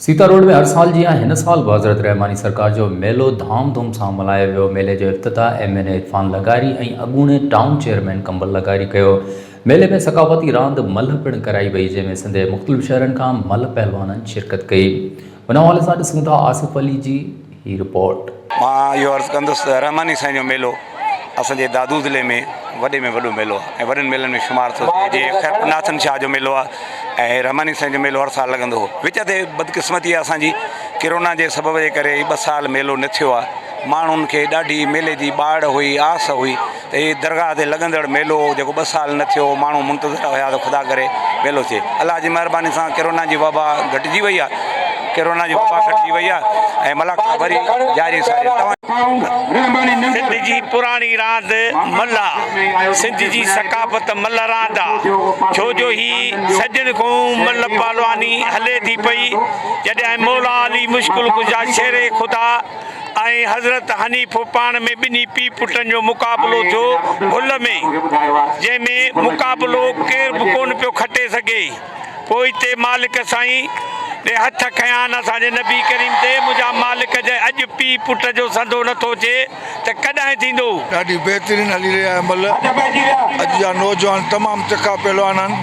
Sita road ۾ هر سال جيان هن سال به حضرت رحماني سرڪار جو ميلو ڌام ڌوم سان ملهايو ويو ميلي جو افتتاح ايم اين اي عرفان لغاري ۽ اڳوڻي ٽائون چيئرمين ڪنول لغاري ڪيو ميلي ۾ ثقافتي راند ملهه پڻ ڪرائي وئي جنهن ۾ سنڌ جي مختلف شهرن کان ملهه پهلوانن شرڪت ڪئي ان حوالي سان ڏسون ٿا آصف علي جي هي رپورٽ. مان اهو عرض ڪندس ته رحماني سائين جو ميلو اسان جي دادو ضلعي ۾ وڏي ۾ وڏو ميلو آهي ۽ وڏن ميلن ۾ شمار ٿو ٿئي جيئن خيرپور ناٿن شاهه جو ميلو آهي ۽ هي رحماني سائين جو ميلو هر سال لڳندو هو وچ تي بدقسمتي آهي اسان جي ڪرونا جي سبب جي ڪري هي ٻه سال ميلو نه ٿيو آهي ماڻهن کي ڏاڍي ميلي جي ٻاڙ هئي آس هئي هي درگاهه تي لڳندڙ ميلو هو جيڪو ٻه سال نه ٿيو هو ماڻهو منتظر هيا ته خدا ڪري ميلو ٿئي الله جي مهرباني سان ڪرونا جي وبا گهٽجي وئي آهي ڪرونا جي وبا گهٽجي وئي آهي ۽ ملاکا وري جاري ساري توهان سنڌ جي پراڻي راند ملهه سنڌ جي ثقافت ملهه راند آ ڇو جو هي سڄڻ کون ملهه پهلواني هلي ٿي پئي جڏهن مولا علي مشڪل ڪشا شير خدا ۽ حضرت حنيف پاڻ ۾ ٻنهي پيء پٽن جو مقابلو ٿيو ڀل ۾، جنهن ۾ مقابلو ڪير به ڪونه پيو کٽي سگهي، پوء اتي مالڪ سائين ڏي هٿ کنيان اسان جي نبي ڪريم تي، منهنجا مالڪ جي اڄ پيء پٽ جو سنڌو نه ٿو اچي ته ڪڏهن ٿيندو؟ ڏاڍي بهترين هلي رهي آهي مل اڄ جا نوجوان تمام تکا پهلوان آهن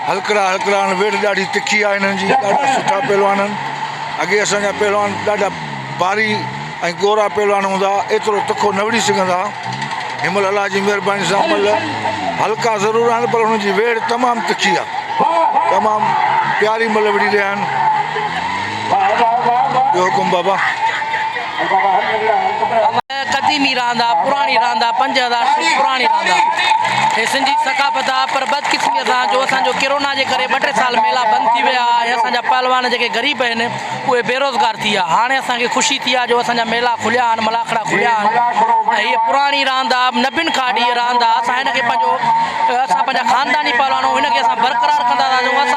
هلڪڙا هلڪڙا آهن ويڙهه ڏاڍي تکي آهي هنن جي ڏاڍا سٺا پهلوان آهن. اڳي اسان جا پهلوان ڏاڍا باري ۽ گورا پهلوان هوندا ها، ايترو تکو نه وڙهي سگهندا ها. هن مهل الله جي مهرباني سان ملهه هلڪا ضرور آهن پر انهن جي ويڙهه تمام تکي آهي. تمام پياري ملهه وڙهي رهيا آهن. ٻيو حڪم بابا. قديمي راند آ پراڻي راند آ پنج هزار سال پراڻي راند آ هي سنڌي ثقافت آ پر بدقسمي سان جو اسان جو ڪرونا جي ڪري ٻه ٽي سال ميلا بند ٿي ويا ها ۽ اسان جا پهلوان جيڪي غريب آهن اهي بيروزگار ٿي ويا هاڻي اسان کي خوشي ٿي آ جو اسان جا ميلا کليا آهن ملاکڙا کليا آهن ۽ هي پراڻي راند آ نبين کان اڏي هي راند آ اسان هن کي پنهنجو اسان پنهنجا خانداني پهلوان آهيون هن کي اسان برقرار ڪندا ٿا هلون اسان